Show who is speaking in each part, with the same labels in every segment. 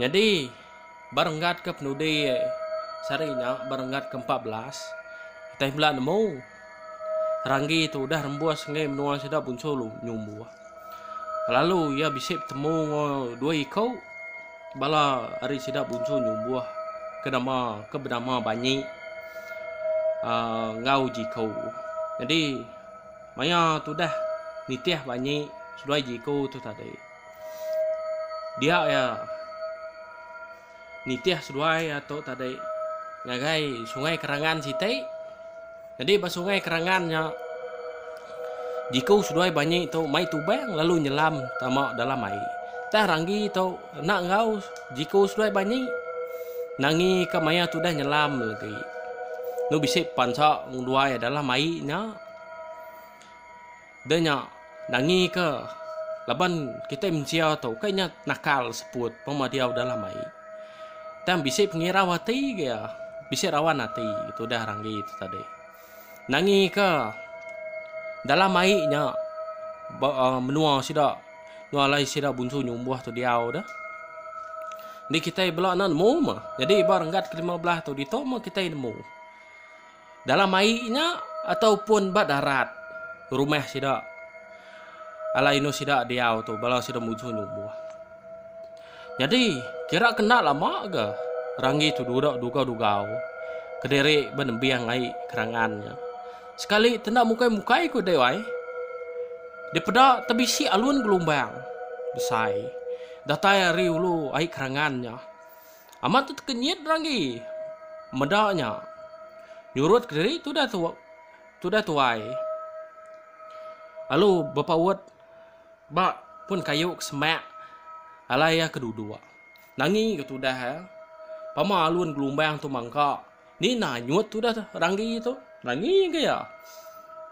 Speaker 1: Nyadi, ba renggat ke penudi sehari nya, ba renggat ke empat belas, utai bela nemu, Ranggi tu udah rembus ngagai menua sida Bunso Nyumbuh. Lalu iya bisi betemu enggau dua iku bala ari sida Bunso Nyumbuh ke nama ke benama Banyi aaa enggau Jiko. Nyadi maya tudah nitih Banyi seduai Jiko tu tadi. Dia iya nitih seduai ato tadi ngagai sungai kerangan siti nyadi ba sungai kerangan nya jiku seduai banyi tu mai tubang lalu nyelam tama dalam ai tah ranggi tu kena enggau jiku seduai banyi nangi ka maya tudah nyelam agi enu bisi pansa ngeduai dalam ai nya. Da nya, nangi ka laban kitai mensia tu ukai nya nakal seput pema diau dalam ai. Tang bisi pengirau ati ga iya, bisi rawan ati ga tudah ranggi tu tadi. Nangi ka dalam ai nya ba aaa menua sida enggau alai sida bunsu nyumbuh tu diau dah. Ni kitai bela ne nemu mah. Jadi ba renggat ke lima belas tu ditu mah kitai nemu. dalam ai nya atau pun ba darat rumah sida alai inu sida diau tu bala sida muju nyubuh nyadi kira ke enda lama ga ranggi tu dudok dugau-dugau kediri ba nembiang ai kerangan nya sekali tenda mukai-mukai ku deh ai dipeda tebisi alun gelombang besai datai ari ulu ai kerangan nya. Amat tu tekenyit ranggi meda nya. Nyurut kediri tudah tu tudah tuai. Lalu bepaut ba pun kayu ke semak alai iya ke duduk. Nangi ke tudah iya. Pama alun gelumbang tu mangka ni nanyut tudah ranggi tu. Nangi ke iya.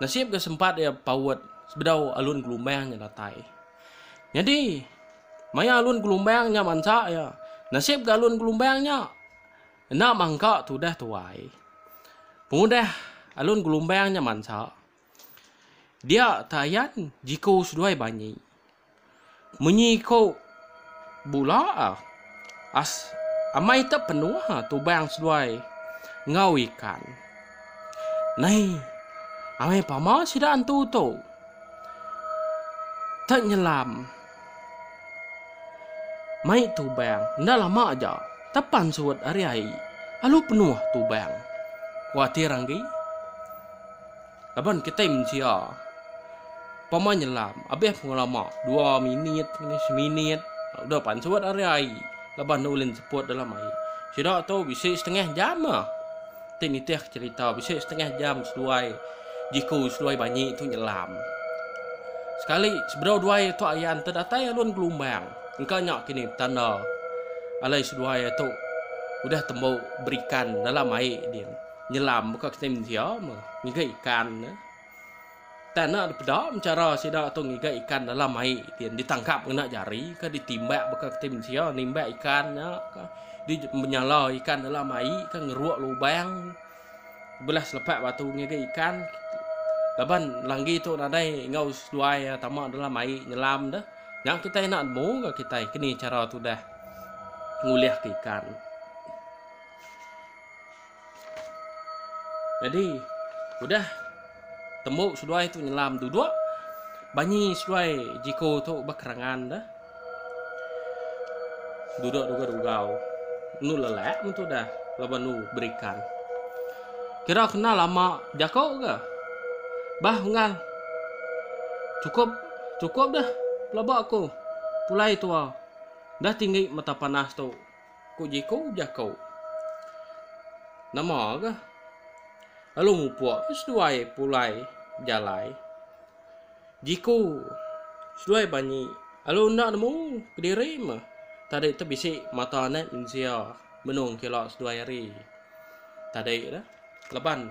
Speaker 1: Nasib ke sempat iya bepaut sebedau alun gelumbang nya datai. Nyadi. Maya alun gelumbang nya mansa iya, nasib ga alun gelumbang nya enda mangka tudah tuai. Pengudah alun gelumbang nya mansa, dia Tayan jiku seduai banyi. Munyi ko bula as amai te penuh tubang seduai enggau ikan. Nai amai pama sida antu tu te nyelam. Mai Tubang, enda lama aja tapan surut ari ai alu penuh Tubang. Kuatir anggi laban kitai mensia pama nyelam abih pengelama dua minit ngini seminit udah pan surut ari ai laban ulih seput dalam ai. Sida tu bisi setengah jam ah. Ti nitihka cherita bisi setengah jam seduai Jiku seduai Banyi tu nyelam. Sekali sebedau duai tu ayan te datai alun gelumbang. Engka nya kini betanda alai seduai tu udah tembu berikan dalam ai din. Nyelam buka kitai mensia meh ngiga ikan. Tang enda dipeda menchara sida tu ngiga ikan dalam ai ti ditangkap ngena jari ke ditimbak baka ti mensia nimbak ikan nya ka di menyala ikan dalam ai ke ngeruk lubang belah selepak batu ngiga ikan laban langgi tu nadai enggau seduai iya tama dalam ai nyelam deh nya kitai enda nemu ga kitai keni chara tudah ngulih ke ikan. Nyadi udah tembu seduai tu nyelam duduk banyi seduai jiko tu ba kerangan da. Duduk duga dugau. Nu lelak mentu dah laban nu berikan. Kira kena lama jako ke. Bah unggal. Cukup cukup dah pelaba aku. Pulai tua. Dah tinggi mata panas tu. Ku Jeko jako. Nama ga. Lalu mupuk ke seduai pulai jalai. Jeko. Seduai banyi. Lalu enda nemu kediri ma. Tadi tu bisi mata anak mensia menung kila seduai hari. Tadi dah. Leban.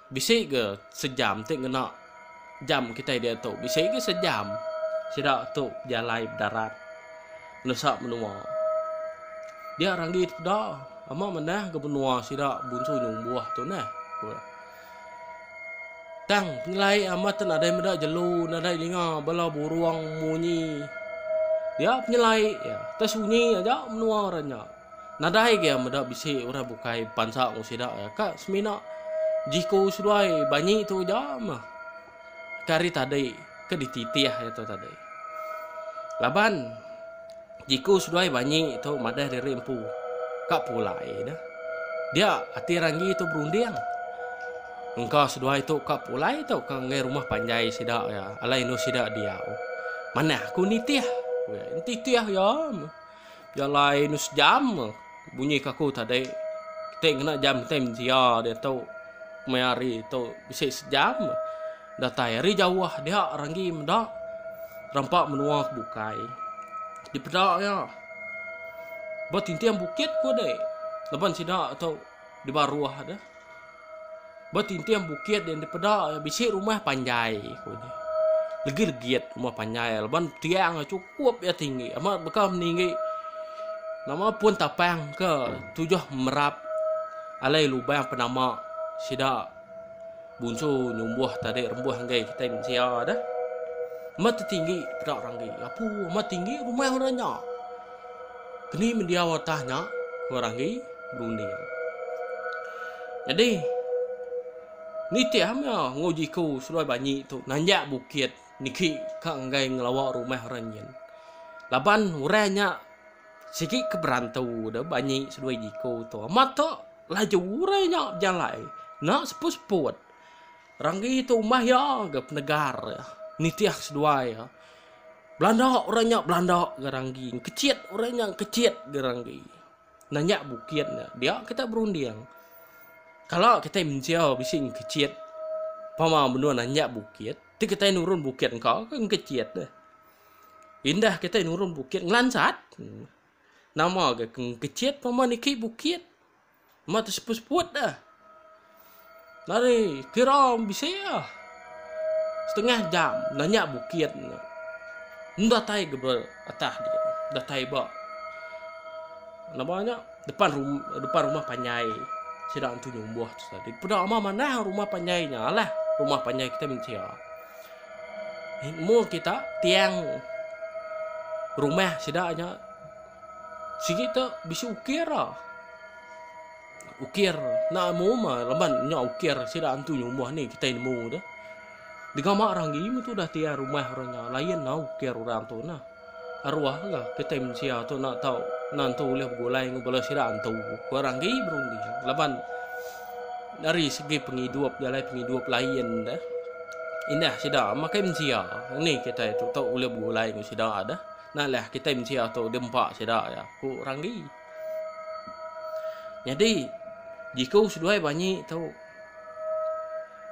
Speaker 1: Bisi ga sejam ti ngena jam kitai diatu. Bisi ga sejam. Sida tu bejalai bedarat nusa menua. Dia ranggi tepeda ama manah ga menua sida bunsu nyumbuh tu neh, ku iya. Tang pengelai amat tu nadai meda jelu, nadai dinga bala burung munyi. Dia penyelai iya. Tau sunyi aja menua orang nya. Nadai ke meda bisi orang bukai bepansa enggau sida iya ka semina jiku seduai banyi tu aja meh. Ke hari tadi ke dititih iya tu tadi. Laban jiku seduai banyi tu madah diri empu ka pulai dah. Dia ati ranggi tu berunding engka seduai tu ka pulai tu ka ngagai rumah panjai sida iya alai endur sida diau. Manah aku nitih. Nitih iya meh. Jalai enda sejam ke bunyi ke aku tadi. Kitai ngena jam kitai mensia diatu kemaya hari tu bisi sejam ke datai ari jauh dia renggi meda rampa menua ke bukai. Dipeda iya ba tinting bukit ku deh laban sida tu. di baruh tu. Betinting bukit yang dipeda bisi rumah panjai ku ni. Legi legit rumah panjai laban tiang cukup ya tinggi amat beka meninggi. Nama pun tapang ke tujuh merap alai lubang penama sida Bunsu nyumbuh tadi rembuh enggai kitai mensia dah. Amat tinggi peda ranggi. Apu amat tinggi rumah orang nya. Keni mendiau atas nya ke ranggi berunding. Jadi nitih am ya ngo jiku seluai banyi tu nanjak bukit niki ka enggai ngelawa rumah orang nyin. Laban orang nya sigi ke berantu dah banyi seduai jiku tu. Amat tu Laju urai nya bejalai enda seput-seput. Ranggi tu umbah iya ga penegar iya nitih seduai iya. Belanda urai nya belanda ga ranggi, engkechit urai nya engkechit ga ranggi. Nanya bukit nya dia kitai berunding. Kala kitai mensia bisi engkechit pama menua nanya bukit ti kitai nurun bukit engka ke engkechit deh. Indah kitai nurun bukit ngelansat. Nama ga ke ngkecit pama niki bukit. Nama tu seput-seput dah. Nari kira bisi ah. Setengah jam nanya bukit. Nda tai ga ba atah dia. Nda tai ba. Nama nya depan rumah, depan rumah panjai. Sida antu nyumbuh tu tadi. Peda ama manah rumah panjai nya lah. Rumah panjai kita mensia. Ilmu kita tiang rumah sida nya sigi tu bisi ukir ah. Ukir nak ilmu mah leban nya ukir sida antu nyumah ni kita ilmu tu. Degama orang gi metu dah tiang rumah orang nya lain lah ukir orang tu nah. Aruah ga kitai mensia tu enda tau nentu ulih begulai enggau bala sida antu ku orang agi berunding laban dari segi pengidup jalai pengidup lain deh indah sida makai mensia ngeni kitai tu tau ulih begulai enggau sida deh. Enda leh kitai mensia tu dempa sida iya ku orang agi. Nyadi jiku seduai banyi tu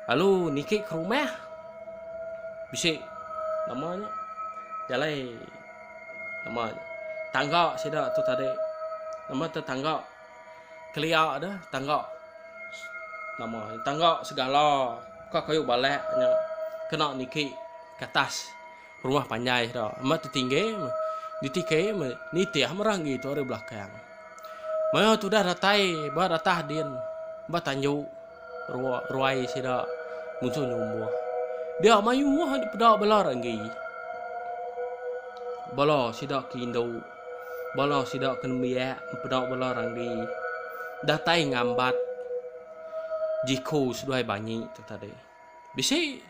Speaker 1: lalu niki ke rumah bisi nama nya jalai nama tangga sida tu tadi nama tu tangga kelia deh tangga nama tangga segala ka kayu balak nya kena niki ke atas. Rumah panjai tu amat ditinggi ditiki nitih merah gi tu ari belakang. Mayuh tudah datai ba ratah din ba tanju ruai sida munsuh nyumbuh. Dia mayuh agi peda bala renggi. Bala sida ke indu bala sida ke nembiak peda bala renggi datai ngambat jiku seduai banyi tu tadi. Bisi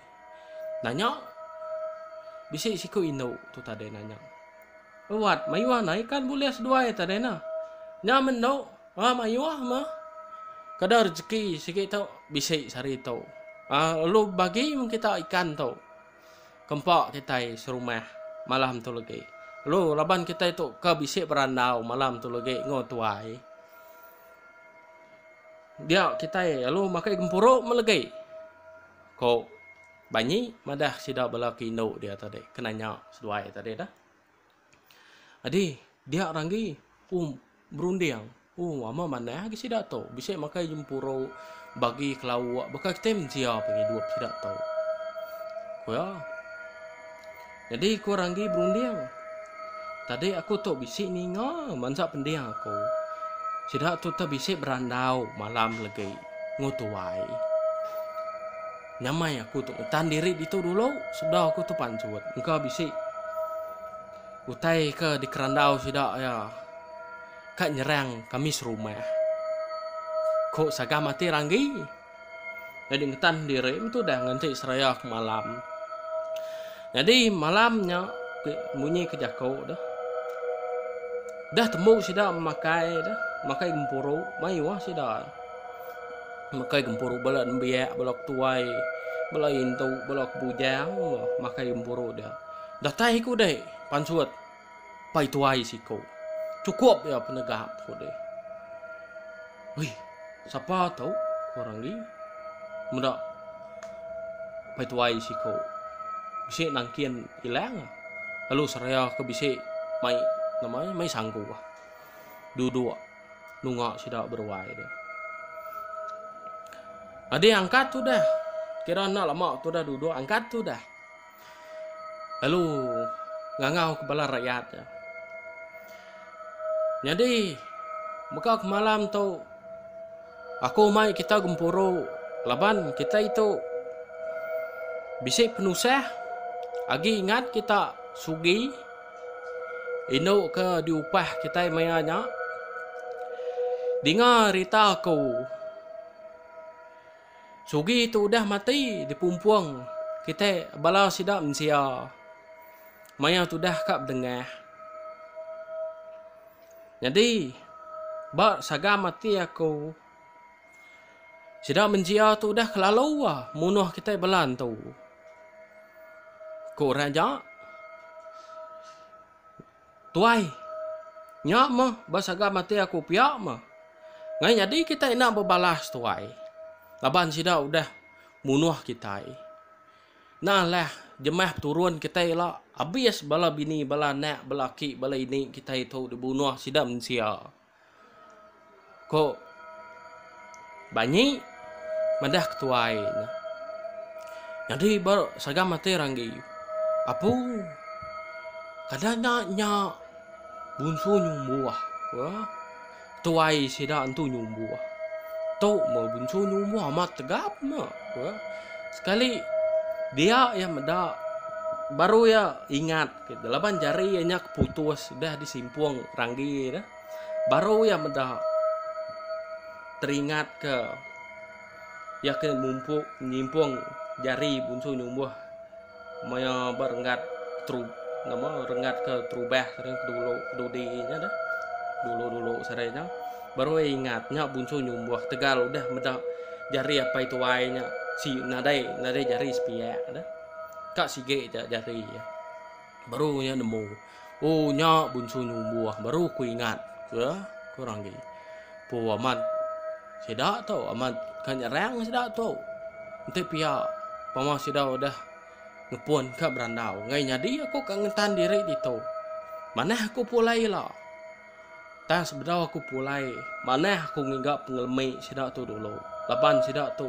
Speaker 1: Nanya. Bisi siku indu tu tadi nanya. Wat, mayuh nah ikan bulis duai tadi nah. Nya mendu, ah mayuh mah. Kada rejeki sigi tu bisi sehari tu. Ah lu bagi mung kita ikan tu. Kempa kitai serumah malam tu lagi. Lu laban kitai tu ka bisi berandau malam tu lagi enggau tuai. Dia kitai lu makai gempuru mah lagi. Ko Banyi madah sida bala ke indu dia tadi ke nanya seduai tadi dah. Adi, dia ranggi um berunding. Um ama manah agi sida tu. Bisi makai jempuru, bagi kelauk, baka kitai mensia pengidup sida tu. Ku iya. Nyadi aku ranggi berunding. Tadi aku tu bisi ninga mansa pending aku. Sida tu teh bisi berandau malam legi enggau tuai. Nyamai aku tu ngetan diri ditu dulu sebedau aku tu pansut. Engka bisi utai ke dikerandau sida ya ka nyerang kami serumah. Ku sagam ati ranggi. Nyadi ngetan diri metudah ngenti seraya ke malam. Nyadi malam nya munyi ke jaku tu. Dah tembu sida memakai tu, memakai gempuru, mayuh sida. Memakai gempuru bala nembiak, bala ketuai, bala indu, bala kebujang memakai gempuru dia. Datai ku dek pansut. Pai tuai siko. Chukup iya penegap, ku deh. Wih, sapa tu? ku orang di. Meda pai tuai siko. Bisi nangkin ilang. Lalu seraya ke bisi mai nama mai sanggu. Duduk nunga sida beruai deh. Adi angkat tu dah. Kira enda lama tu dah duduk angkat tu dah. lalu ngangau ke bala rakyat nya. Nyadi mega kemalam tu aku mai kita gempuru laban kitai tu bisi penusah agi ngat kita sugi indu ke diupah kitai maya nya dinga rita aku Sugi tu udah mati dipumpung kitai bala sida mensia. Maya tudah ka bedengah. Nyadi ba sagam ati aku sida mensia tu udah kelalu munuh kitai bala entu. Ku orang ja. Tuai. Nya meh ba sagam ati aku pia meh. Ngai nyadi kitai enda bebalas tuai. Laban sida udah munuh kitai. Nah lah jemah peturun kitai ila abis bala bini bala anak bala aki bala ini kitai tu dibunuh sida mensia. Ko Banyi madah ke tuai ne. Nyadi ba sagam ati ranggi apu kada nya nya bunsu nyumbuh ko tuai sida entu nyumbuh tu meh bunsu nyumbuh amat tegap ne ko sekali dia iya meda baru iya ingat. Ke laban jari iya nya keputus dah disimpung ranggi nya, baru iya meda teringat ke iya ke mumpu nyimpung jari bunsu nyumbuh maya ba renggat tru nama renggat ke terubah ke dulu dudi nya dah dulu-dulu sehari nya baru iya ingat nya bunsu nyumbuh tegal udah meda jari apai tuai nya si nadai nadai jari sepiak dah. Ka sigi ija jari iya. Baru iya nemu. Oh nya bunsu nyumbuh baru ku ingat ke ku Ranggi. Pu amat sida tu amat ka nyerang sida tu. Enti pia pama sida udah ngepun ka berandau ngai nyadi aku ka ngentan diri ditu. Manah aku pulai ila. Tang sebedau aku pulai, manah aku ngiga pengelemi sida tu dulu laban sida tu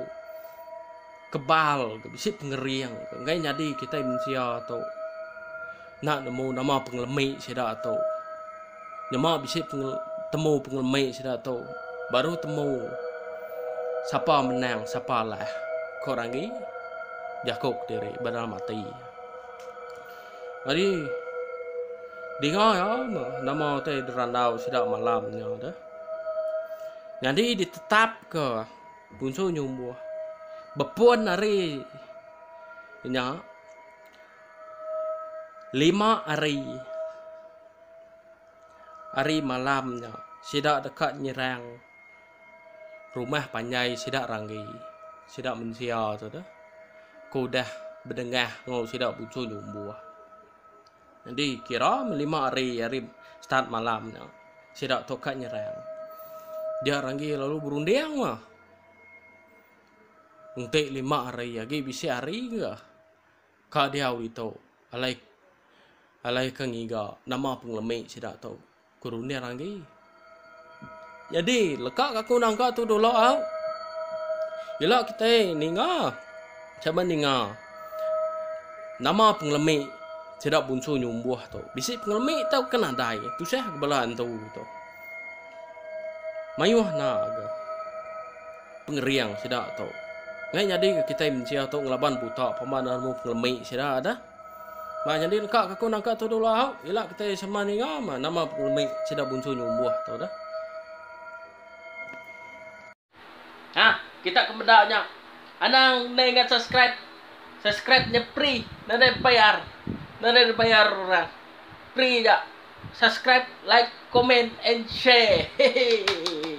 Speaker 1: kebal ga bisi pengering ga enggai nyadi kitai mensia tu enda nemu nama pengelemi sida tu. Nyema bisi temu pengelemi sida tu baru temu sapa menang sapa alah, ku Ranggi jaku kediri ba dalam ati. Ari dinga iya nama utai dirandau sida malam nya deh. Nyadi ditetapka punsu nyumbuh bepun hari nya lima hari hari malam nya sida deka nyerang rumah panjai sida ranggi sida mensia tu dah ke udah bedengah enggau sida buchur nyumbuh jadi kira meh lima hari hari start malam nya sida tu ka nyerang dia ranggi lalu berunding meh enti lima hari agi bisi hari ga ka diau ditu alai alai ke ngiga nama pengelemi sida tu. Ku runding agi. Nyadi, leka ka aku nangka tu dulu au. Ila kitai ninga. Sama ninga. Nama pengelemi sida bunsu nyumbuh tu. Bisi pengelemi tau ke nadai. Tusah ke bala antu tu. Mayuh na ke. Pengering sida tu. Ngai nyadi ke kitai mensia tu ngelaban buta pemandang pengelemi sida dah. Bah nyadi deka ke aku nangka tu dulu au, ila kitai sama ninga mah nama pengelemi sida bunsu nyumbuh tu dah. Ha, kita ke meda nya. Anang ndai ngan subscribe. Subscribe nya free, nda ada bayar. Nda ada dibayar orang. Free aja. Subscribe, like, comment and share. Hehehe.